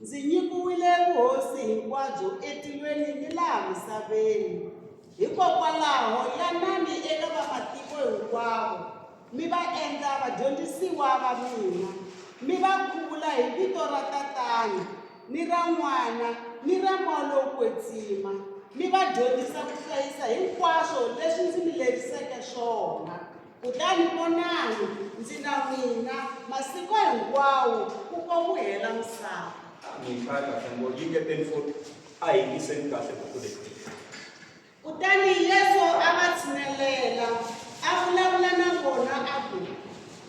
Ndzi nyikiwile vuhosi hinkwabyo etilweni ni laha misaveni. Hikokwalaho yanani eka vamatiko hinkwavo, mi va endla vadyondzisiwa va mina, mi va khuvula hi vito ra Tatana ni ra N'wana ni ra Moya lowo Kwetsima, mi va dyondzisa ku hlayisa hinkwaswo leswi ndzi mi leriseke swona. Kutani vonani, ndzi na n'wina masiku hinkwawo ku komuhela misava. Mhika kahle ngo yingeteni futhi a hi yingiseni kahle buku leyi Kutani Yesu a va tshinelela, a vulavula na vona a ku,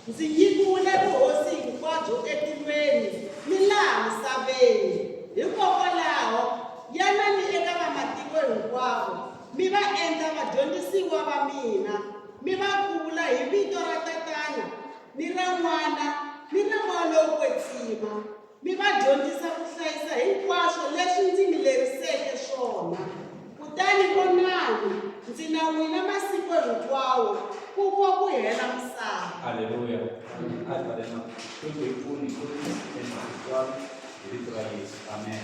Ndzi nyikiwile vuhosi hinkwabyo etilweni ni laha misaveni. Hikokwalaho, yanani eka vamatiko hinkwavo Mi va endla vadyondzisiwa va mina, mi va khuvula hi vito ra Tatana ni ra N'wana ni ra Moya lowo Kwetsima, mi va dyondzisa ku hlayisa hinkwaswo leswi ndzi mi leriseke swona. Kutani vonani, ndzi na n'wina masiku hinkwawo ku ko ku hela misava. Haleluya. Advare na ku hi pfuni ku tshemba hinkwaswo. hi vito ra yesu amen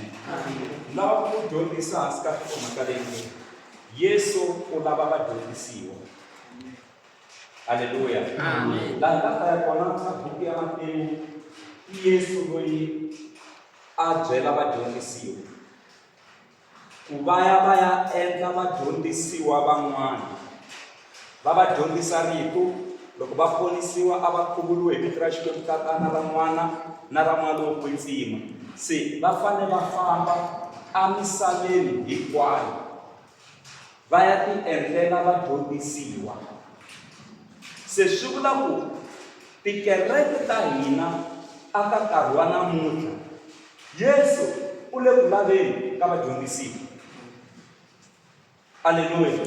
lava ku dyondzisa hansi ka nhlokomhaka leyi yesu u lava vadyondzisiwa halleluya laha ka ta ya kona ka buku ya matewu i yesu loyi a byela vadyondzisiwa ku va ya va ya endla vadyondzisiwa van'wana va va dyondzisa rito loko va ponisiwa a va khuvuriwe hi vito ra xikwembu tatana ra n'wana na ra n'wana wo kwetsima se va fanele va famba amisaveni hinkwayo va ya tiendlela va dyondzisiwa. Se swi vula ku tikereke ta hina a ka nkarhi wa namuntlha Yesu u le ku laveni ka vadyondzisiwa. Aleluya.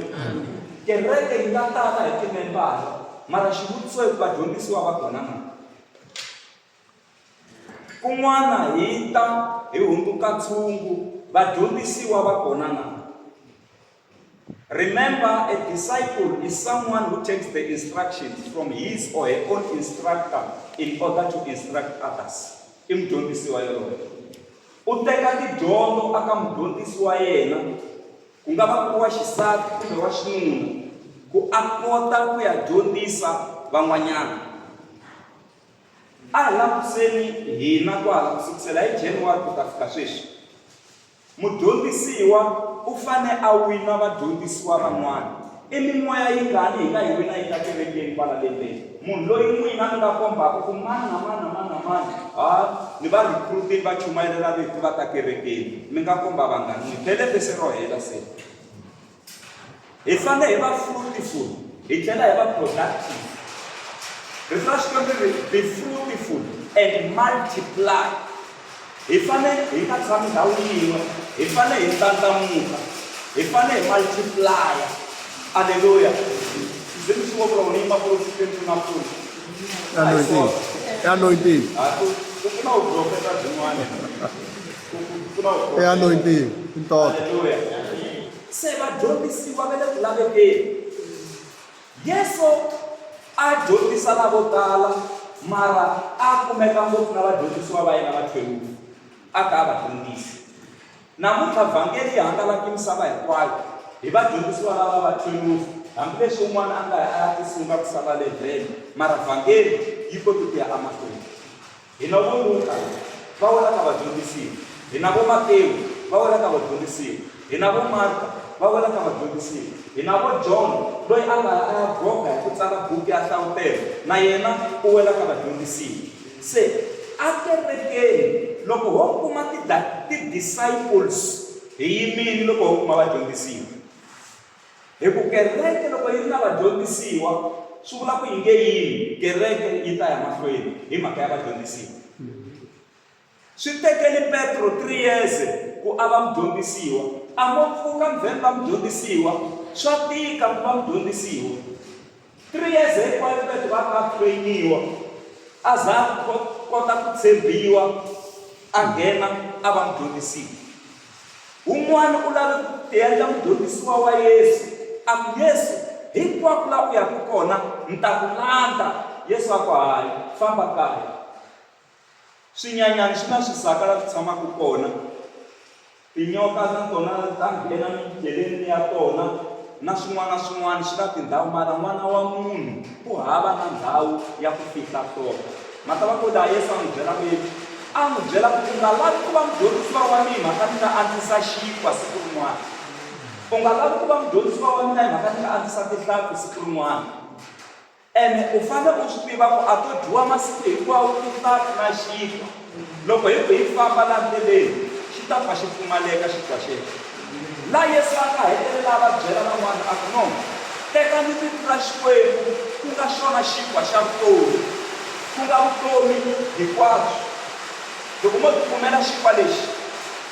Kereke yi nga tala hi timembara mara xivutiso i ku vadyondzisiwa va kona na? Kun'wana hi ta hi hundzuka ntshungu, vadyondzisiwa va kona na? Remember, a disciple is someone who takes the instructions from his or her own instructor in order to instruct others. I mudyondzisi wa yoloye. U teka tidyondzo aka mudyondzisi wa yena, ku nga va ku ri wa xisati kumbe wa xinuna, ku a kota ku ya dyondzisa van'wanyana. A hi langutiseni hina kwala ku sukisela hi January ku ta fika sweswi, mudyondzisiwa u fane a wina vadyondzisiwa van'wana. I mimoya yingani hi nga yi wina yi ta kerekeni kwala lembeni? Munhu loyi n'wina mi nga kombaka ku mani na mani na mani na mani ha ni va recruit-ini va chumayela rito va ta kerekeni, mi nga komba vangani? Ni bele vhese ro hela se. Hi fanele hi va fruitful, hi tlhela hi va productive. Rito ra Xikwembu ri be fruitful and multiply. Hi fanele hi nga tshami ndhawu yin'we, hi fanele hi ndlandlamuka, hi fanele hi multiplaya. Aleluya. Ndzi mi xivoko ra wena yi makulu Xikwembu na pfuna. Anointing. Anointing. Ha ku ku na u profeta byin'wana. I anointing, i ntoto. se vadyondzisiwa va le ku lavekeni yesu a dyondzisa lavo tala mara a kumeka ngopfu na vadyondzisiwa va yena va thewuku a ka a va dyondzisi namuntlha vhangeli yi hangalaki misava hinkwayo hi vadyondzisiwa lava va thwelufu hambileswi un'wana a nga a ya tisunga ku sala levhele mara vhangeli yi koti ku ya amahlweni Hina vo Luka, va wela ka vadyondzisiwa, hina vo Matewu, va wela ka vadyondzisiwa, hina vo Marka, va wela ka vadyondzisiwa, hina vo John, loyi a nga a ya groga hi ku tsala buku ya nhlavutelo, na yena u wela ka vadyondzisiwa. Se, ekerekeni, loko ho kuma ti, ti disciples, hi yimini loko ho kuma vadyondzisiwa. Hi ku kereke loko yi ri na vadyondzisiwa swi vula ku yi nge yini kereke yi ta ya mahlweni hi mhaka ya vadyondzisiwa swi tekeli petro three years ku a va mudyondzisiwa a mo pfuka mvheni va mudyondzisiwa swa tika ku va mudyondzisiwa Three years hinkwayo Petro a nga trainiwa a za a kota ku tshembiwa a nghena a va mudyondzisiwa. Un'wana u lave ku tiendla mudyondzisiwa wa Yesu, a ku, Yesu, hinkwako laha u yaka kona ni ta ku landza. Yesu a ku, Hayi, famba kaya. Swinyanyani swi na swisaka la swi tshamaka kona. Tinyoka na tona ta nghena midyeleni ya tona na swin'wana na swin'wana swi na tindhawu mara n'wana wa munhu ku hava na ndhawu ya ku fihla tona mhaka va ku laha yesu a n'wi byela ku yini a n'wi byela ku u nga lavi ku va mudyondzisiwa wa mina mhaka ni nga andzisa xinkwa siku rin'wana u nga lavi ku va mudyondzisiwa wa mina hi mhaka ni nga andzisa tihlampfi siku rin'wana Ene u fanele u swi tiva ku a to dyiwa masiku hinkwawo tinhlampfi na xinkwa. Loko hi ku hi famba laha ndleleni, xi ta pfa xi pfumaleka xinkwa xexo. Laha Yesu a nga hetelela a va byela van'wana a ku, No tekani titlula Xikwembu, ku nga xona xinkwa xa vutomi, ku nga vutomi hikwabyo. Loko mo tikumela xinkwa lexi,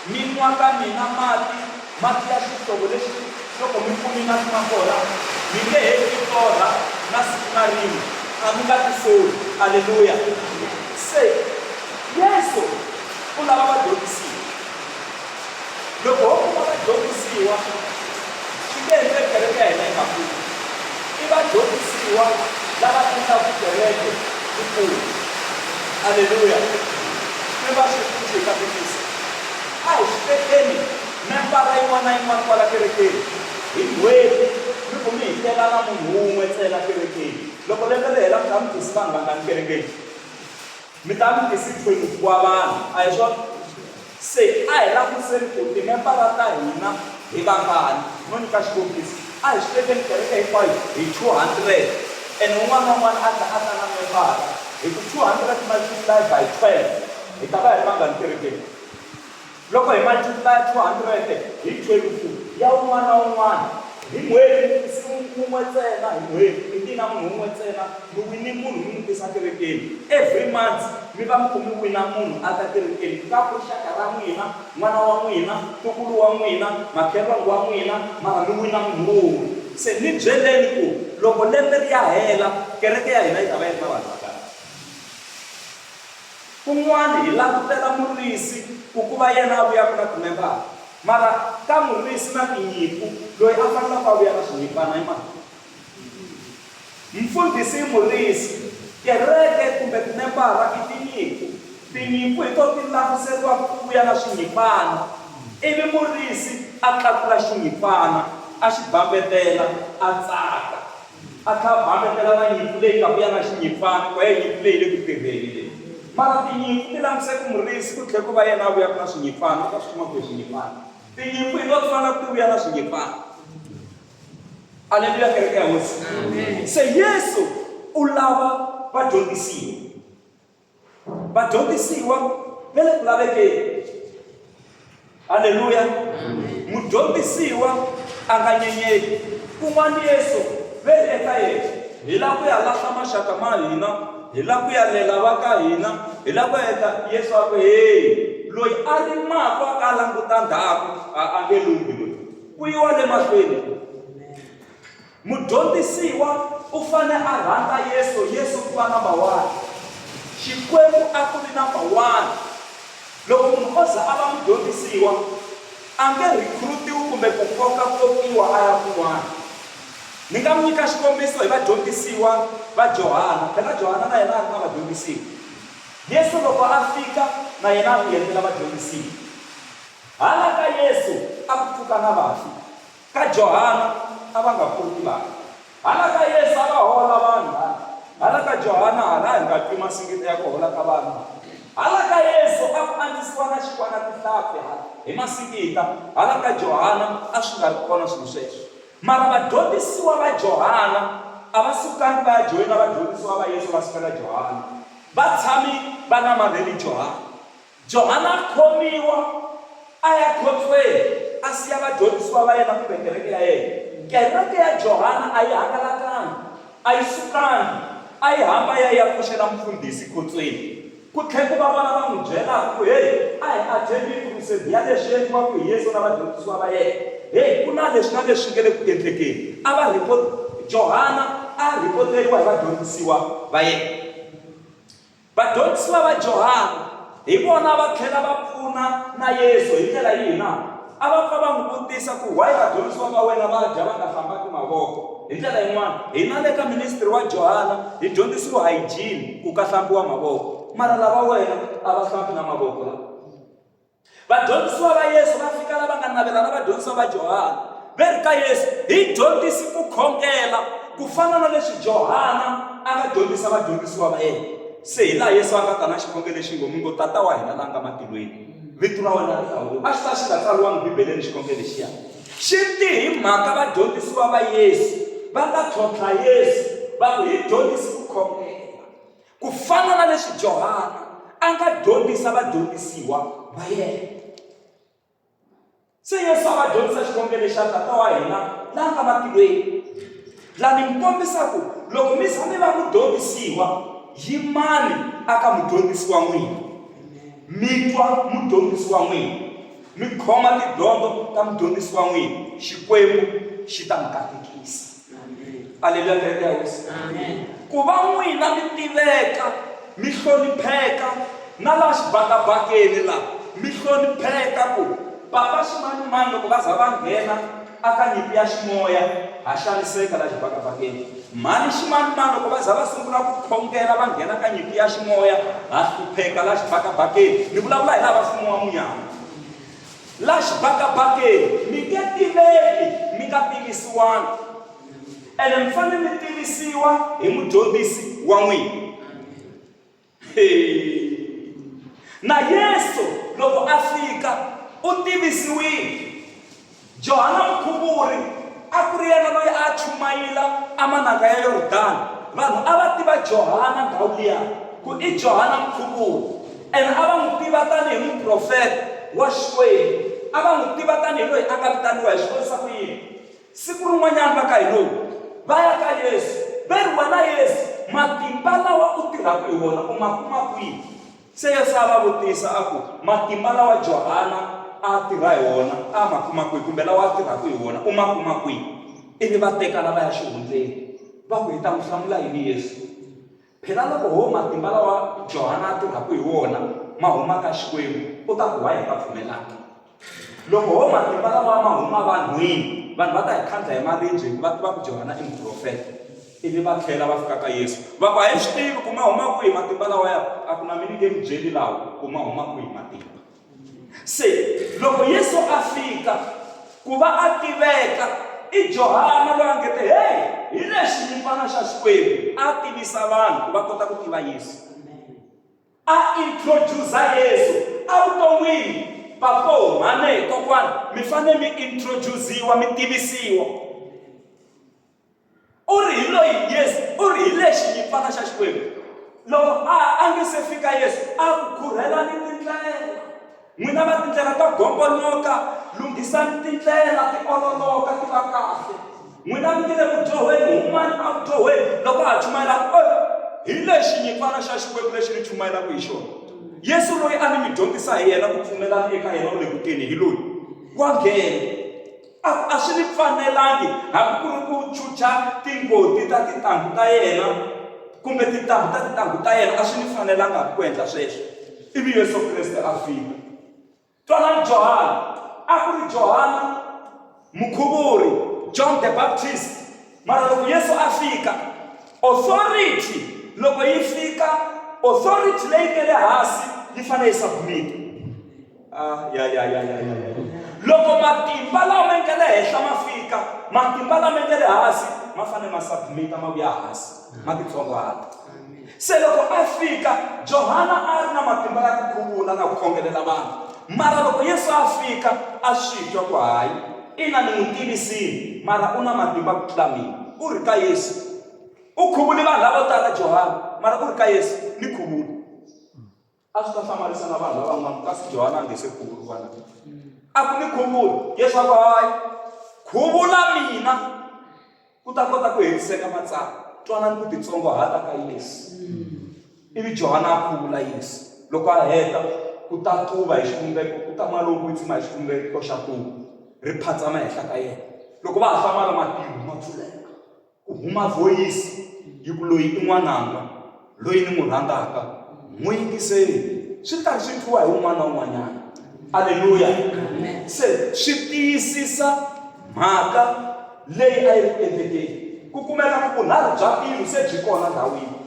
mi nwa ka mina mati, Mati ya xihlovo lexi loko mi pfune mati ma kona, mi nge he mi torha na siku na rin'we, a mi nga tisoli. Aleluya! Se, Yesu u lava vadyondzisiwa. Loko ho kuma vadyondzisiwa, swi nge endleki kereke ya hina yi nga kuli. I vadyondzisiwa lava endlaka kereke yi kula. Aleluya! Xikwembu a xi hi pfune xi hi katekisa. A hi tekeni membara yin'wana na yin'wana kwala kerekeni hi n'hweti mi ku mi hikelana munhu un'we ntsena kerekeni. Loko lembe ri hela mi ta mi tisi vanhu vangani kerekeni? Mi ta mi tisi 22 wa vanhu, a hi swona? Se a hi langutiseni ku timembara ta hina hi vangani. No nyika xikombiso, a hi swi tekeni kereke hinkwayo hi 200 ene un'wana na un'wana a ta a ta na membara, hi ku 200 multiplied by 12 hi ta va hi ri vangani kerekeni? Loko hi matimba ya 200 hi 12 ya un'wana na un'wana hi n'hweti, mufisi wun'we ntsena hi n'hweti, mi wina munhu wun'we ntsena, mi wine munhu mi n'wi tisa kerekeni. Every month mi va mi ku mi wina munhu a ta kerekeni, ku nga ku ri xaka ra n'wina, n'wana wa n'wina, ntukulu wa n'wina, makhelwani wa n'wina, mara mi wina munhu wun'we. Se ni byeleni ku loko lembe ri ya hela kereke ya hina yi ta va yi ri na vanhu vangani? Kun'wana hi langutela murisi ku ku va yena a vuyaka na timembara, mara ka murisi na tinyimpfu, loyi a fanelaka a vuya na swinyimpana i mani? Mfundhisi i murisi, kereke kumbe timembara i tinyimpfu. Tinyimpfu hi tona ti languteriwaka ku vuya na swinyimpana, ivi murisi a tlakula xinyimpana, a xi bambetela, a tsaka. A tlhela a bakatela na nyimpfu leyi ta vuya na xinyimpfana, ku ya hi nyimpfu leyi yi le ku tirheni leyi. Mara tinyimpfu ti languse ku murisi, ku tlhela ku va yena a vuyaka na swinyimpfana. U ta swi kuma kwihi swinyimpfana? Tinyimpfu hi nga ti vona ti vuya na swinyimpfana. Aleluya, kereke ya Hosi! Se Yesu u lava vadyondzisiwa. vadyondzisiwa va le ku lavekeni halleluya mudyondzisiwa a nga nyenyeli kun'wana yesu ve eka yena hi la ku ya lahla maxaka ma hina hi la ku ya lela va ka hina hi la ku ya endla yesu a ku heyi loyi a rimaka a nga languta ndhaku a a nge lunghi loyi ku yiwa le mahlweni Mudyondzisiwa u fanele a rhandza Yesu, Yesu ku va namba one. Xikwembu a ku ri namba one. Loko munhu o za a va mudyondzisiwa, a nge rhikhurutiwi kumbe ku koka-kokiwa a ya kun'wana. Ni nga mi nyika xikombiso hi vadyondzisiwa va Johana. Phela Johana na yena a ri na vadyondzisiwa. Yesu loko a fika, na yena a ku yendlela vadyondzisiwa. Hala ka Yesu a ku pfuka na vafi. Ka Johana a va nga koti vanhu, hala ka Yesu a va hola vanhu, hala, hala ka Johana hala a hi nga twi masingido ya ku hola ka vanhu, hala ka Yesu a ku andzisiwa na xinkwa na tihlampfi, hala, hi masingita, hala ka Johana a swi nga ri kona swilo sweswo. Mara vadyondzisiwa va Johana a va sukangi va ya joyina vadyondzisiwa va Yesu va sukela Johana, va tshami va namarheli Johana. Johana a khomiwa a ya khotsweni a siya vadyondzisiwa va yena kumbe kereke ya yena. Kereke ya Johana a yi hangalakanga, a yi sukanga, a yi hamba ya ya pfuxela mufundhisi khotsweni. Ku tlhe ku va vona va n'wi byelaka ku, Hey, a hi a tshembini ku ri se biha leswi endliwaka hi Yesu na vadyondzisiwa va yena. Hey, ku na leswi na leswi swi nge le ku endlekeni. A va rhipot, Johana a a rhipoteriwa hi vadyondzisiwa va yena. Vadyondzisiwa va Johana hi vona va tlhela va pfuna na Yesu. Hi ndlela yihi na? A va pfa va n'wi vutisa ku, Why vadyondzisiwa va wena va dya va nga hlambaki mavoko? Hi ndlela yin'wana, hina le ka ministry wa Johana hi dyondzisiwe hygiene, ku ka hlambiwa mavoko. Mara lava wena a va hlambi na mavoko lava. Vadyondzisiwa va Yesu va fika la va nga navela na vadyondzisiwa va Johana, va ri ka Yesu, Hi dyondzisi ku khongela, ku fana na leswi Johana a nga dyondzisa vadyondzisiwa va yena. Se hi laha Yesu a nga ta na xikhongelo lexi ngo, Mi ngo, Tata wa hina la nga matilweni, vito ra wena ri hlawuriwe. A xi ta xi nga tsariwangi Bibeleni xikhongelo lexiya. Xi te hi mhaka vadyondzisiwa va Yesu va nga tlhontlha Yesu va ku, Hi dyondzisi ku khongela. Ku fana na leswi Johana a nga dyondzisa vadyondzisiwa va yena, se Yesu a va dyondzisa xikongelo xa Tata wa hina la nga matilweni. La ni mi kombisa ku loko mi za mi va mudyondzisiwa, yimani aka mudyondzisi wa n'wina, mi twa mudyondzisi wa n'wina, mi khoma tidyondzo ta mudyondzisi wa n'wina, Xikwembu xi ta mi katekisa. aleluya kereke ya hosi ku va n'wina mi tiveka mi hlonipheka na laha xibakabakeni laha mi hlonipheka ku bava ximanimani loko va za va nghena aka nyimpi ya ximoya ha xaniseka laha xibakabakeni mhani ximanimani loko va za va sungula ku khongela va nghena ka nyimpi ya ximoya ha hlupheka laha xibakabakeni ni vulavula hi laha va mfumo wa munyama La xibakabakeni, mi nge tiveki mi nga tivisiwanga, ene mi fanele mi tivisiwa hi mudyondzisi wa n'wina. Na Yesu loko a fika u tivisiwile. Johana Mukhuvuri a ku ri yena loyi a chumayela amanaka ya Yordani. Vanhu a va tiva Johana ndhawu liya ku i Johana Mukhuvuri. Ene a va n'wi tiva tanihi muprofeta wa Xikwembu. A va n'wi tiva tanihi loyi a nga vitaniwa. Hi swi vonisa ku yini? Siku rin'wanyana va ka Henoki va ya ka Yesu va ri, Wena Yesu, matimba lawa u tirhaka hi wona u ma kuma kwihi? Se Yesu a va vutisa a ku, Matimba lawa Johana a a tirha hi wona a ma kuma kwihi, kumbe lawa a tirhaka hi wona u ma kuma kwihi? Ivi va tekana va ya xihundleni. Va ku, Hi ta n'wi hlamula yini Yesu? Phela loko woho matimba lawa Johana a tirhaka hi wona ma huma ka Xikwembu, u ta ku why hi nga pfumelanga? Loko woho matimba lawa ma huma vanhwini, vanhu va ta hi khandla hi maribye hi ku va tiva ku Johana i muprofeta. Ivi va tlhela va fika ka Yesu va ku, A hi swi tivi ku ma huma kwihi matimba lawaya, a ku na mina nge mi byeli lawa ku ma huma kwihi matimba. Se, loko Yesu a fika, ku va a tiveka, i Johana loyi a nge te, Heyi, hi lexi nyimpfana xa Xikwembu! A tivisa vanhu ku va kota ku tiva Yesu. A introduce Yesu evuton'wini. Papo, mhani, kokwana, mi fanele mi introduce-iwa, mi tivisiwa. u ri hi loyi yesu u ri hi lexi nyimpfana xa xikwembu loko a a nge se fika yesu a ku khurhelani tindlela n'wina va tindlela ta gombonoka lunghisani tindlela ti ololoka ti va kahle n'wina mi nge le ku dyohweni humani a ku dyohweni loko a ha chumayela hi lexi nyimpfana xa xikwembu lexi ni chumayelaka hi xona yesu loyi a ni mi dyondzisa hi yena ku pfumelana eka yena u le ku teni hi loyi wa nghena A ku, A swi ni fanelangi, hambi ku ri ku chucha tingoti ta tintangu ta yena, kumbe tintambu ta tintangu ta yena, a swi ni fanelanga hambi ku endla sweswo. Ivi Yesu Kreste a fika. Twanani Johana. A ku ri Johana Mukhuvuri, John the Baptist. Mara loko Yesu a fika, authority loko yi fika, authority leyi nge le hasi yi fanele yi submit-a. loko matimba lama nga le henhla ma fika matimba lama nga le hansi ma fanele ma submita ma vuya hansi ma titsongwana se loko a fika johana a ri na matimba ya ku khuvula na ku khongelela vanhu mara loko yesu a fika a swi twa ku hayi ina ni n'wi tivisini mara u na matimba ku tlula mina u ri ka yesu u khuvuli vanhu lavo tala johana mara u ri ka yesu ni khuvula a swi ta hlamarisa na vanhu lavan'wana kasi johana a nge se khuvuriwa na a ku ni khuvula yesu a ku hayi khuvula mina ku ta kota ku hetiseka matsalwa twanani ku titsongohata ka yesu ivi johana a khuvula yesu loko a heta ku ta tuva hi xivumbeko ku ta mali lowu tsima hi xivumbeko xa tuva ri phatsama henhla ka yena loko va ha hlamala matilo ma pfuleka Ku huma vhoyisi yi ku, Loyi i N'wananga loyi ni n'wi rhandzaka, n'wi yingiseni. Swi ri karhi swi twiwa hi un'wana na un'wanyana. Aleluya! Se swi tiyisisa mhaka leyi a yi ri ku endlekeni. Ku kumeka ku vunharhu bya mbilu se byi kona ndhawini.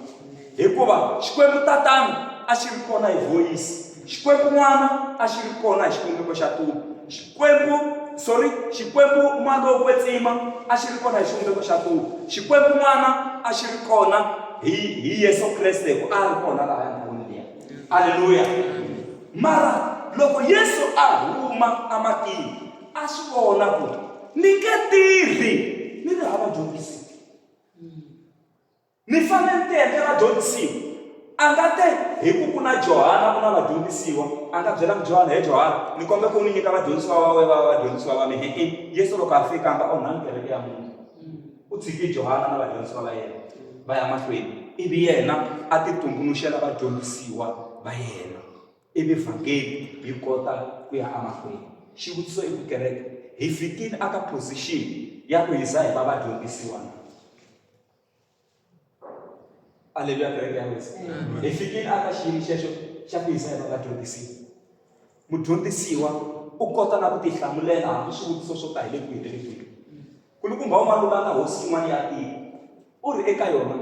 Hikuva Xikwembu Tatana a xi ri kona hi voyisi, Xikwembu N'wana a xi ri kona hi xivumbeko xa tulo, Xikwembu, sorry, Xikwembu N'walokwetsima a xi ri kona hi xivumbeko xa tulo, Xikwembu N'wana a xi ri kona hi, hi Yesu Kreste, hikuva a a ri kona laha ndhawini liya. Aleluya! Mara loko Yesu a huma ematini, a swi vona ku ni nge tirhi ni ri hava dyondzisi. Ni fane ni tete vadyondzisiwa. Anga te, Hi ku ku na Johana ku na vadyondzisiwa, anga byelanga Johana, He Johana, ni kombe ku u ni nyika vadyondzisiwa va we vava vadyondzisiwa va mi. Hi-i. Yesu loko a fika, anga onhani kereke ya munhu. U tshiki Johana na vadyondzisiwa va yena va ya mahlweni, ivi yena a ti tumbuluxela vadyondzisiwa va yena, ivi vhangeli yi kota ku ya amahlweni. Xivutiso i ku kereke hi fikile aka position ya ku hi za hi va vadyondzisiwa na? aleluya kereke ya wesa hi fikile aka xiyimo xexo xa ku yisa eka vadyondzisiwa mudyondzisiwa u kota na ku tihlamulela hambi swivutiso swo ka hi le kwihi le kwihi kulukumba u malulana hosi yin'wana ya tiko u ri eka yona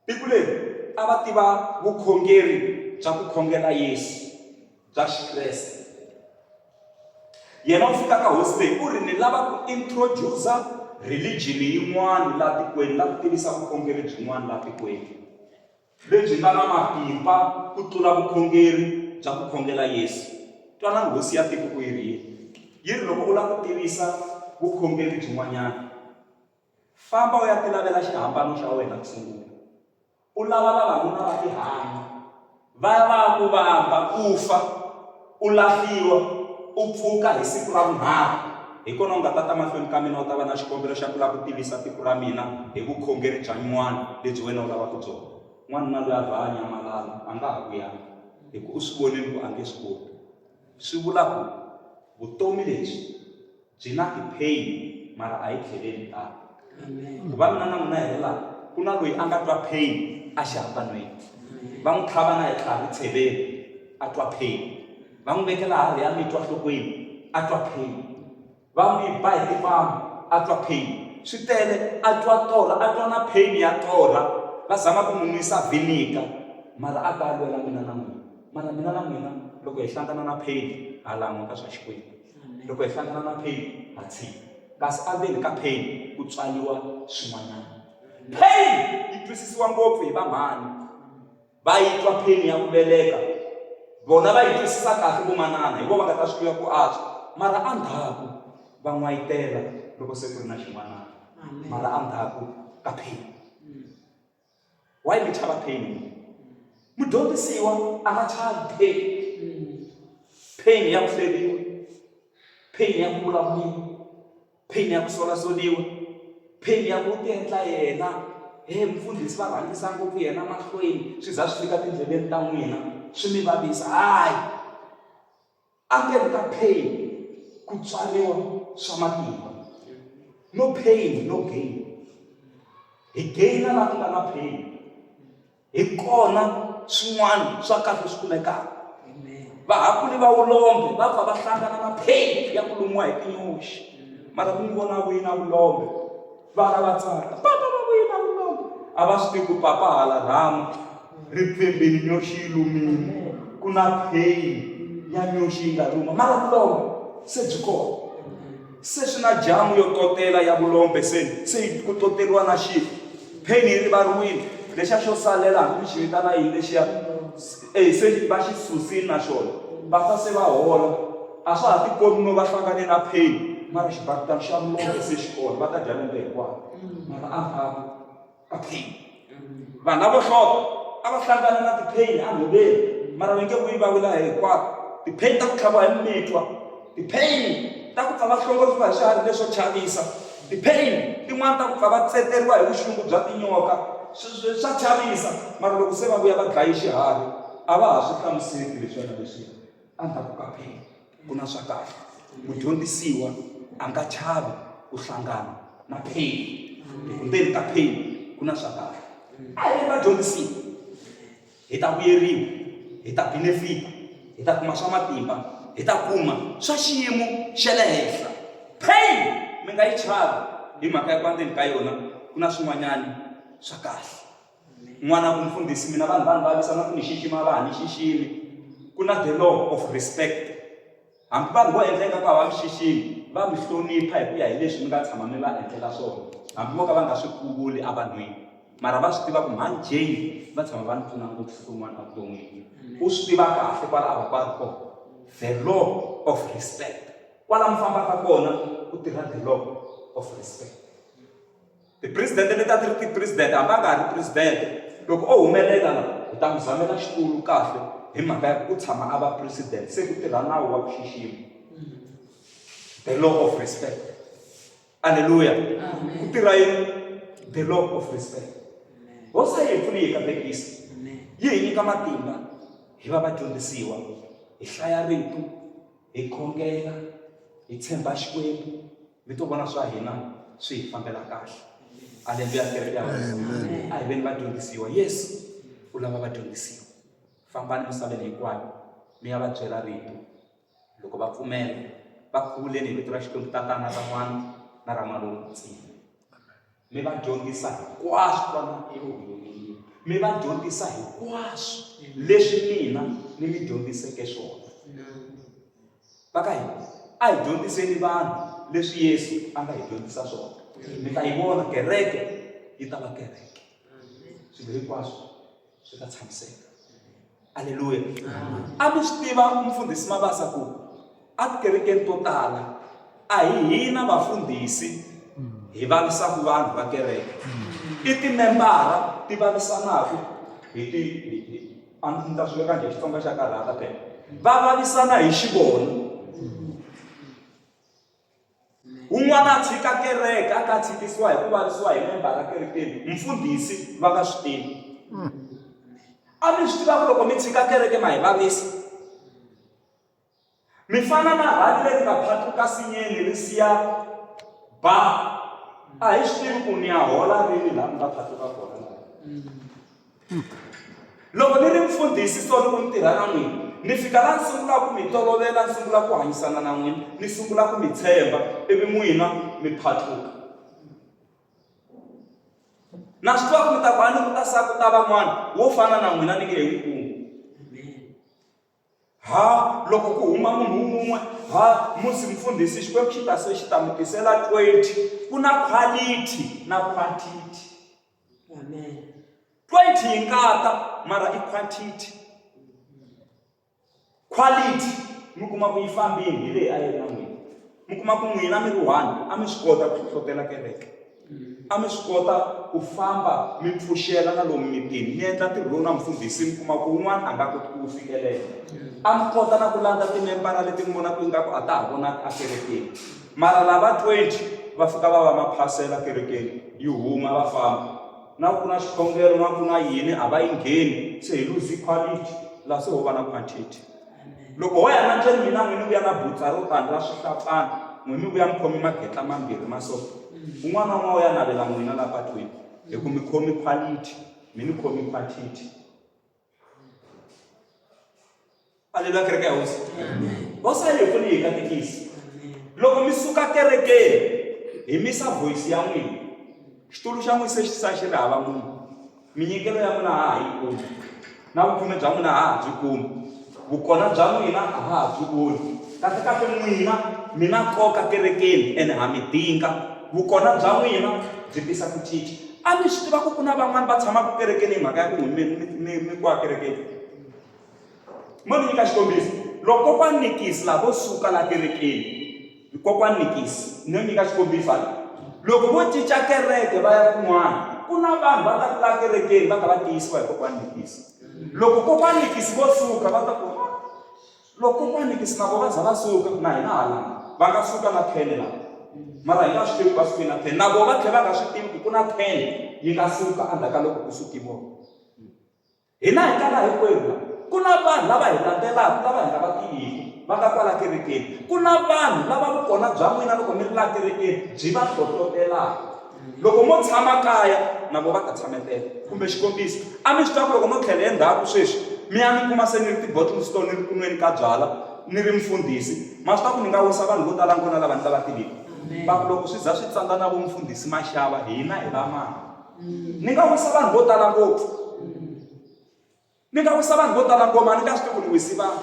tiko leri a va tiva vukhongeri bya ku khongela yesu bya Xikreste. Yena u fika ka hosi leyi u ri ni lava ku introducer religion yin'wana laha tikweni la ku tivisa vukhongeri byin'wana laha tikweni lebyi nga na matimba ku tlula vukhongeri bya ku khongela yesu twanani hosi ya tiko ku yi ri yini yi ri loko u lava ku tivisa vukhongeri byin'wanyana famba u ya tilavela xihambano xa wena ku sungula u lava vavanuna va tihanyi va ya va ya ku vamba u fa u lahliwa u pfuka hi siku ra vunharhu hi kona u nga ta ta mahlweni ka mina u ta va na xikombelo xa ku lava ku tivisa tiko ra mina hi vukhongeri bya nywana lebyi wena u lavaka byona n'wanuna loyi a vhanya malala a nga ha vuyanga hi ku u swi vonile ku a nge swi koti swi vula ku vutomi lebyi byi na ti-pain mara a hi tlheleli tano vavanuna na n'wina hi ri laha ku na loyi a nga twa pain a xihambanweni va n'wi tlhava na hi tlhavi tsheveni a twa pain va n'wi vekela harhi ya mitwa nhlokweni a twa pain va n'wi ba hi tipamu a twa pain swi tele a twa torha a twa na pain ya torha va zama ku n'wi nwisa vinika mara a ta lwela mina na n'wina mara mina na n'wina loko hi hlangana na pain ha languta swa xikwembu loko hi hlangana na pain ha tshika kasi endzeni ka pain ku tswaliwa swin'wanyana pain yi twisisiwa ngopfu hi vamhani va yi twa pain ya ku veleka vona va yi twisisa kahle vomanana hi vo va nga ta swi tiva ku antswa mara endzhaku va n'wayitela loko se ku ri na xin'wanana mara endzhaku ka pain Why mi chava pain n'wina? Mudyondzisiwa a nga chavi pain. Pain ya ku hleriwa, pain ya ku vulavuriwa, pain ya ku solasoliwa, pain ya ku tiendla yena he mufundhisi va rhangisa ngopfu yena mahlweni swi za swi fika tindleleni ta n'wina swi mi vavisa hayi Endzeni ka pain ku tswariwa swa matimba. No pain, no gain. Hi gain laha ku nga na pain. Hi kona swin'wana swa kahle swi kumekaka. Vahakuli va vulombe va pfa va hlangana na pain ya ku lumiwa hi tinyoxi. Mara mi vona wina vulombe. Vana va tsaka, papa va vuyile a vumanga. A va swi tivi ku papa hala rhamu ri pfembeni nyoxi yi lumile ku na pheyini ya nyoxi yi nga luma mara vulombe se byi kona se swi na jamu yo totela ya vulombe se se ku toteriwa na xifi pheyini yi rivariwile lexa xo salela hambi mi xi vitana yini lexiya E se va xi susile na xona, va ta se va hola. A swa ha tikombi no va hlangane na pain, mara xibakitana xa mulombe se xi kona, va ta dya lembe hinkwaro. Mara a va vi ka pain. Vanhu lavo hlota a va hlangana na ti-pain enhoveni, mara va nge vuyi va vula hinkwato. Ti-pain ta ku tlhaviwa hi mimitwa. Tipheyini ta ku pfa va hlongoriwa hi swiharhi leswo chavisa tipheyini tin'wana ta ku pfa va tseteriwa hi vuxungu bya tinyoka swa chavisa mara loko se va vuya va dlaye xiharhi a va ha swi hlamuseli leswona leswi endzhaku ka pheyini ku na swa kahle mudyondzisiwa a nga chavi ku hlangana na pheyini hi ku ndzeni ka pheyini ku na swa kahle a hi vadyondzisiwa hi ta vuyeriwa, hi ta benefita, hi ta kuma swa matimba, hi ta kuma swa xiyimo xa le henhla. Pain mi nga yi chavi hi mhaka ya ku endzeni ka yona ku na swin'wanyana swa kahle. N'wana ku mfundhisi mina vanhu va ni vavisa na ku ni xixima a va ha ni xiximi. Ku na the law of respect. Hambi vanhu vo endleka ku hava mixiximi va mi hlonipha hi ku ya hi leswi mi nga tshama mi va endlela swona hambi vo ka va nga swi kuvuli evanhwini mara va swi tiva ku mhani jane va tshama va ni pfuna ngopfu siku rin'wana evuton'wini u swi tiva kahle kwala a va ku a ri kona the law of respect kwala mi fambaka kona ku tirha the law of respect Tipresidente leti a ti ri tipresidente hambi a nga ha ri presidente loko o humelela la hi ta n'wi zamela xitulu kahle hi mhaka ya ku u tshama a va presidente se ku tirha nawu wa ku xixima the law of respect aleluya ku tirha yini the law of respect hosi a yi hi pfuni yi hi katekisa yi hi nyika matimba hi va vadyondzisiwa hi hlaya rito hi khongela hi tshemba xikwembu mi to vona swa hina swi hi fambela kahle aleluya kereke ya wena a hi veni vadyondzisiwa yesu u lava vadyondzisiwa fambani misaveni hinkwayo mi ya va byela rito loko va pfumela va khuvuleni hi vito ra xikwembu tatana ra n'wana na ra n'wana lowu tsini mi va dyondzisa hinkwaswo vana mi va dyondzisa hinkwaswo leswi mina ni mi dyondziseke swona va ka hina a hi dyondziseni vanhu leswi yesu a nga hi dyondzisa swona mi ta yi vona kereke yi ta va kereke swilo hinkwaswo swi ta tshamiseka aleluya a mi swi tiva mufundhisi mabasa ku etikerekeni to tala a hi hina vafundhisi hi vavisaka vanhu va kereke i timembara ti vavisanaka hi ti a ndzi ta swi veka njhe xitsonga xa karhata phela va vavisana hi xivono Un'wana a tshika kereke a ka tshikisiwa hi ku vavisiwa hi membara kerekeni mfundhisi va nga swi tivi hmm. a mi swi tiva ku loko mi tshika kereke ma hi vavisa mi fana na rhali leri nga phatuka sinyeni ri siya ba a hi swi tivi ku ni ya hola rini laha mi nga phatuka kona hmm. Loko ni ri mfundhisi so loko ni tirha na n'wina ni fika laha ni sungulaka ku mi tolovela ni sungula ku hanyisana na n'wina ni sungula ku mi tshemba ivi n'wina mi phatluka na swi tiva ku mi ta ku a ni ku ta sa ku ta van'wana wo fana na n'wina ni nge he n'wi kumi ha loko ku huma munhu wun'we ha musi mfundhisi xikwembu xi ta se xi ta mi tisela 20 ku na quality na quantity amen 20 yi nga ta mara i quantity quality mi kuma ku yi fambini hi leyi a yi ri na n'wina mi kuma ku n'wina mi ri one a mi swi kota ku hlohlotela kereke mm. a mi swi kota ku famba mi pfuxela na lomu mitini mi endla ntirho lowu na mfundhisi mi kuma ku un'wana a nga koti ku wu fikelela mm. a mi kota na ku landza timembara leti mi vonaka ingaku a ta ha vonaka a kerekeni mara lava 20 va fika va va maphasela kerekeni yi huma va famba na ku na xikhongelo na ku na yini a va yi ngheni se hi luzi quality laha se ho va na quantity loko ho ya nanjeni mina n'wini vuya na butsa ro tani ra swihlatsana n'wini vuya mi khomi magetla mambirhi ma so un'wana un'wana u ya navela n'wina la patwini hi ku mi khomi quality mi ni khomi quantity aleluya kereke ya hosi hosi a yi pfuni hi katekisi loko mi suka kerekeni hi misa voyisi ya n'wina xitulu xa n'wina se xi sa xi ri hava munhu minyikelo ya n'wina ha ha yi kumi na vukhome bya n'wina ha ha byi kumi Vukona bya n'wina a ha ha byi voni. Kahle kahle n'wina mi na nkoka kerekeni ene ha mi dinga. Vukona bya n'wina byi tisa ku cinca. A mi swi tiva ku ku na van'wana va tshamaka kerekeni hi mhaka ya ku mi mi mi mi kwa kerekeni? Mo ni nyika xikombiso, loko kokwani Nikisi lavo suka laha kerekeni, Kokwana Nikisi ni no nyika xikombiso hala, loko vo cinca kereke va ya kun'wana ku na vanhu va nga ku laha kerekeni va kha va tiyisiwa hi kokwana Nikisi. Loko kokwana Nikisi vo suka va ta ku loko kokwana Nikisi na vona va za va suka na hina hala va nga suka na thene lava mara hi nga swi tivi va suke na thene na vona va tlhela va nga swi tivi ku ku na thene yi nga suka endzhaku ka loko ku suke vona. Hina hi tala hinkwerhu la. Ku na vanhu lava hi landzelaka lava hi nga va tiviki, va nga kwala kerekeni. Ku na vanhu lava vukona bya n'wina loko mi ri laha kerekeni byi va hlohlotelaka. Loko mo tshama kaya, na vona va ta tshametela. Kumbe xikombiso, a mi swi twa ku loko no tlhela endzhaku sweswi, mi ya mi kuma se ni ri ti-bottle store ni ri ku nweni ka byalwa ni ri mufundhisi, ma swi tiva ku ni nga wisa vanhu vo tala ngho na lava ni nga va tiviki? Va ku loko swi za swi tsandza na vo Mufundhisi Mashava, hina hi va mani? ni nga wisa vanhu vo tala ngopfu ni nga wisa vanhu vo tala ngoma ni nga swi tivi ku ni wisi vanhu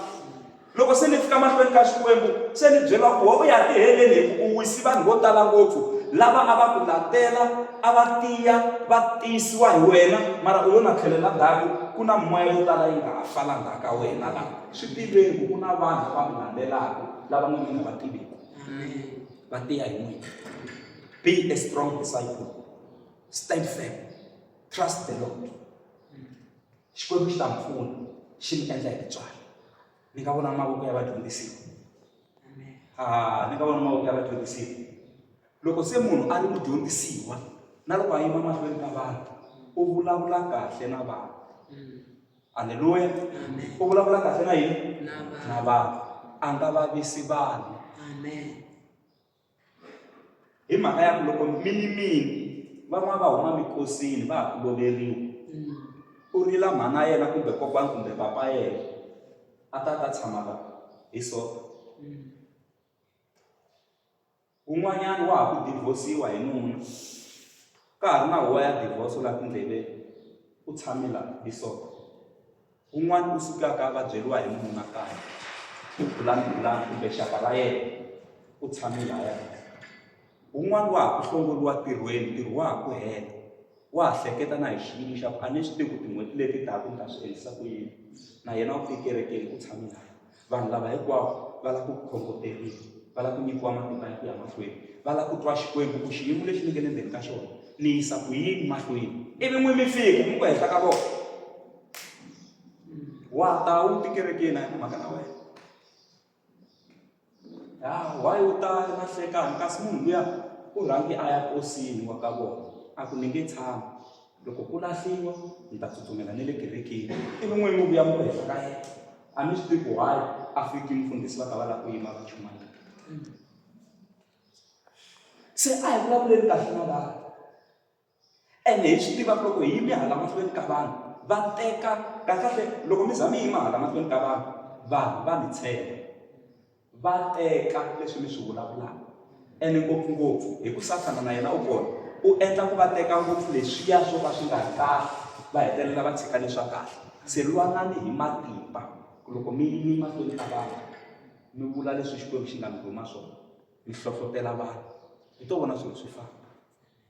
loko se ni fika mahlweni ka xikwembu se ni byela ku u ya tiheleni hi ku u wisi vanhu vo tala ngopfu lava a va ku latela a va tiya va tiyisiwa hi wena mara u yo na tlhelela ndzhaku ku na moya yo tala yi nga ha fala ndzhaku ka wena la swi tiveni ku ku na vanhu lava mi landzelaka lava n'wini mi nga va tiviki va tiya hi n'wina be a strong disciple stand firm trust the lord xikwembu xi ta mi pfuna xi mi endla hi titswalo ni nga vona mavoko ya vadyondzisiwa ni nga vona mavoko ya vadyondzisiwa loko se munhu a ri mudyondzisiwa na loko a yima mahlweni ka vanhu u vulavula kahle na vanhu halleluya u vulavula kahle na yini na vanhu a nga vavisi vanhu hi mhaka ya ku loko mi yimile van'wana va huma mikosini va ha ku loveriwa mm. u rila mhana yena kumbe kokwani kumbe papa yena a ta ta tshama la hi so mm. un'wanyana wa ha ku divhosiwa hi nuna ka ha ri na huwa ya divhoso la tindleveni u tshame la hi so Un'wana u sukaka a vabyeriwa hi mununa kaya i bulani-bulani kumbe xaka ra yena u tshame laya un'wana wa ha ku hlongoliwa tirhweni ntirho wa ha ku hela wa ha hleketa na hi xiyimo xa ku a ni swi tivi ku tin'hweti leti taka ni ta swi endlisa ku yini na yena u tikerekeni u tshame laya Vanhu lava hinkwavo va lava ku khongoteriwa, va lava ku nyikiwa matimba ya ku ya mahlweni, va lava ku twa Xikwembu ku xiyimo lexi ni nge le ndzeni ka xona ni yisa ku yini mahlweni. Ivi n'wi mi fika mi ku henhla ka vona wa ta wu tikerekeni a yi na mhaka na wena ya why u ta na hlekani kasi munhu luya u rhangi a ya kosini wa ka vona a ku ni nge tshami loko ku lahliwa ni ta tsutsumela ni le kerekeni ivi n'wini mi vuya mi ku hehla ka yena a mi swi tivi ku why a fiki mufundhisi va ta va lava ku yima va chuma yini se a hi vulavuleni kahle na vanhu ene hi swi tiva ku loko hi yime hala mahlweni ka vanhu va teka kahlekahle loko mi za mi yima hala mahlweni ka vanhu vanhu va mi tshemba va teka leswi mi swi vulavulaka ene ngopfungopfu hi ku sathana na yena u kona u endla ku va teka ngopfu leswiya swo ka swi nga ri kahle va hetelela va tshika leswa kahle se lwanani hi matimba ku loko mi yime mahlweni ka vanhu mi vula leswi xikwembu xi nga mi rhuma swona mi hlohlotela vanhu hi to vona swilo swi famba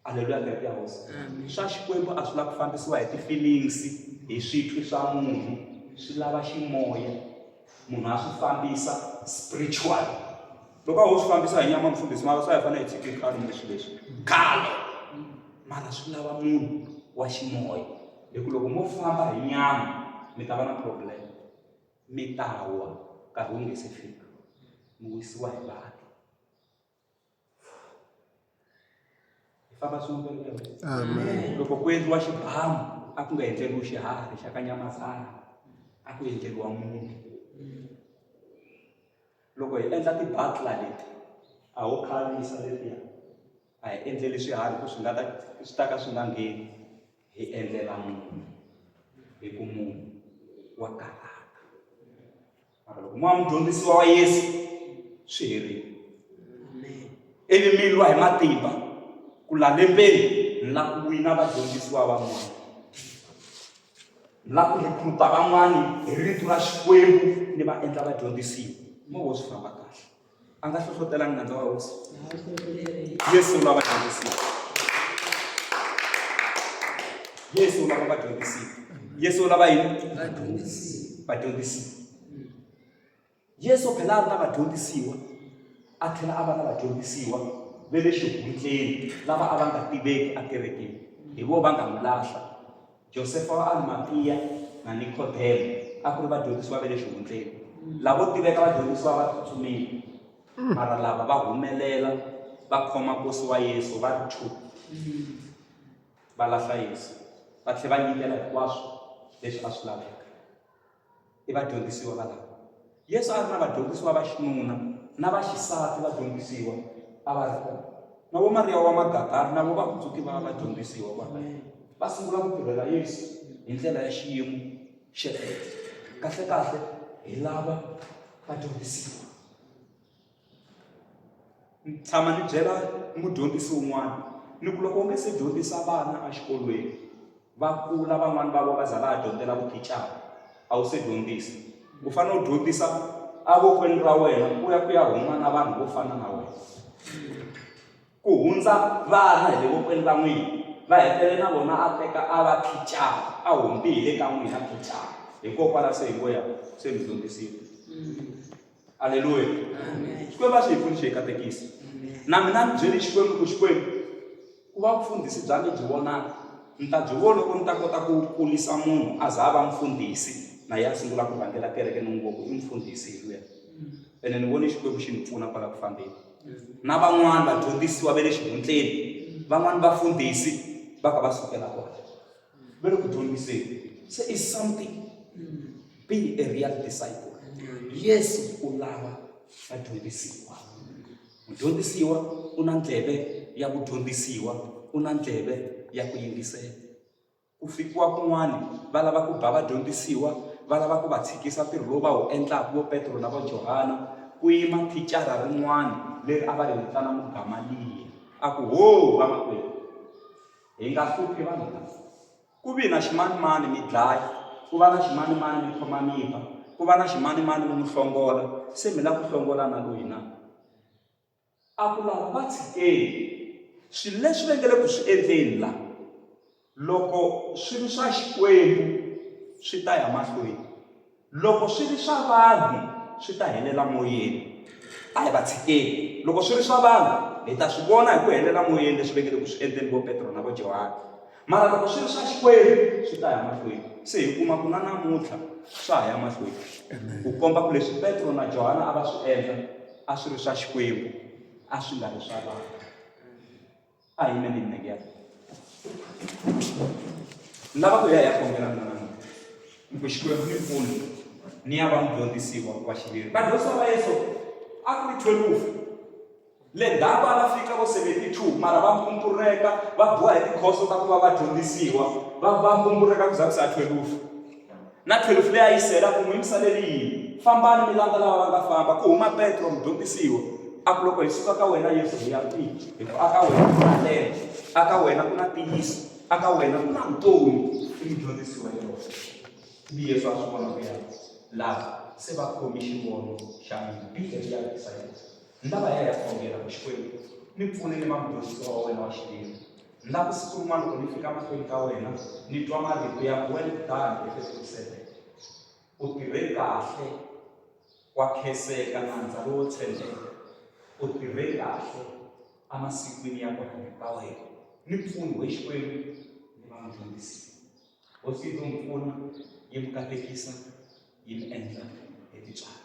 Haleluya kereke ya hosi Amen. swa xikwembu a swi lava ku fambisiwa hi ti-feelings hi switwi swa munhu swi lava ximoya munhu a swi fambisa spiritual loko a ho swi fambisa hi nyama mfundhisi mara swa hi fanele hi tshike khalo kumbe swilo leswi khalo mara swi lava munhu wa ximoya hi ku loko mo famba hi nyama mi ta va na problem mi ta wa nkarhi wu nge se fika mi wisiwa hi vanhu hi famba swin'we Amen. loko ku endliwa xibamu a ku nga endleriwi xiharhi xa ka nyamazana a ku endleriwa munhu loko hi endla ti-butla leti a ho khavisa letiya a hi endleli swiharhi ku swi nga ta swi ta ka swi nga ngheni hi endlela munhu hi ku munhu wa karhata mara loko mo va mudyondzisiwa wa yesu swi herile ivi mi lwa hi matimba ku la lembeni mi la ku wina vadyondzisiwa van'wana mi la ku rhikhuruta van'wani hi rito ra xikwembu ni va endla vadyondzisiwa mo vo swi famba kahle a nga hlohlotelanga nandza wa hosi yesu u lava dyondzisiwa yesu u lava vadyondzisiwa yesu u lava yini vadyondzisiwa yesu u phela a ri na vadyondzisiwa a tlhela a va na vadyondzisiwa ve le xihundleni lava a va nga tiveki akerekeni hi vo va nga mu lahla Josefa wa Arimatia na Nikodemo a ku ri vadyondzisiwa va le xihundleni lavo tiveka vadyondzisiwa va tsutsumile mara lava va humelela va khoma nkosi wa yesu va ri two va lahla yesu va tlhela va nyikela hinkwaswo leswi a swi laveka i vadyondzisiwa valava yesu a ri na vadyondzisiwa va xinuna na va xisati vadyondzisiwa a va ri kona na vo mariya wa magadari na vo va kutsuki va vadyondzisiwa va va sungula ku tirhela yesu hi ndlela ya xiyimo xexo kahlekahle hi lava vadyondzisiwa ni tshama ni byela mudyondzisi un'wana ni ku loko u nge se dyondzisa vana exikolweni va kula van'wani va vo va za va ha dyondzela vuthicara a wu se dyondzisa u fanele u dyondzisa avokweni ra wena ku ya ku ya huma na vanhu vo fana na wena ku hundza vana hi le vokweni ra n'wina va hetele na vona a teka a va thicara a humbi hi le ka n'wina thicara hikokwalaho se hi ngo ya se mi dyondzisile mm. aleluya xikwembu a swi hi pfuni xi hi katekisa na mina ni byeli xikwembu ku xikwembu ku va vufundhisi bya mi byi vonaka ni ta byi vona loko ni ta kota ku kulisa munhu a za a va mfundhisi na ye a sungula ku rhangela kereke ni n'wi voku i mfundhisi hi luya ene ni vone xikwembu xi ni pfuna kwala ku fambeni na van'wani vadyondzisiwa va le xihundleni van'wani vafundhisi va ka va sukela kona va le ku dyondziseni se is something being a real disciple yesu u lava vadyondzisiwa mudyondzisiwa u na ndleve ya ku dyondzisiwa u na ndleve ya ku yingisela ku fikiwa kun'wana va lava ku ba vadyondzisiwa va lava ku va tshikisa ntirho lowu va wu endlaka vo petro na va johana ku yima thicara rin'wana leri a va ri vitana mugamaliya a ku ho vamakwerhu Hi nga hluphi vanhu lava. Ku vi na ximanimani mi dlaya, ku va na ximanimani mi khoma mimba, ku va na ximanimani mi n'wi hlongola, se mi lava ku hlongola na loyi na? A ku lava va tshikeni. Swilo leswi va nge le ku swi endleni la, loko swi ri swa Xikwembu swi ta ya mahlweni. Loko swi ri swa vanhu, swi ta helela moyeni. A hi va tshikeni. Loko swi ri swa vanhu, hi ta swi vona hi ku helela moyeni leswi vekile ku swi endleni vo Petro na vo Johani. Mara loko swi ri swa Xikwembu, swi ta ya mahlweni. Se hi kuma ku na namuntlha swa ha ya mahlweni, ku komba ku leswi Petro na Johani a va swi endla a swi ri swa Xikwembu, a swi nga ri swa vanhu. a hi me nini nenge ya lava ku ya ya kombela mina namuntlha ni ku xikwembu ni mpfuni ni ya va mudyondzisiwa wa xiviri vadyondzisiwa va yesu a ku ri thwelufu le ndzhaku a va fika vo seventy-two mara va mpumpureka va boha hi tikhoso ta ku va vadyondzisiwa va va mpumpureka ku za ku sa thwelufu Na 12 leyi a yi sela ku n'wi yimisa leyi yini? Fambani mi landza lava va nga famba. Ku huma Petro, mudyondzisiwa, a ku, Loko hi suka ka wena, Yesu, hi ya kwihi? Hikuva aka wena ku na ndlela, aka wena ku na ntiyiso, aka wena ku na vutomi. I mudyondzisi wa yona. Ivi Yesu a swi vona ku ya lava se va khomi xivono xa mina. Bibele ya vekisa yona. Ni lava ya ya khongela ku Xikwembu ni pfune ni va mudyondzisiwa wa wena wa xiviri ni lava ku siku rin'wana loko ni fika mahlweni ka wena ni twa marito ya well done efesuku seven u tirhe kahle wa khenseka nandza lowo tshembeka u tirhe kahle emasikwini ya kona ka wena ni pfuni we xikwembu ni va mudyondzisi hosi yi to mi pfuna yi mi katekisa yi mi endla hi titswalo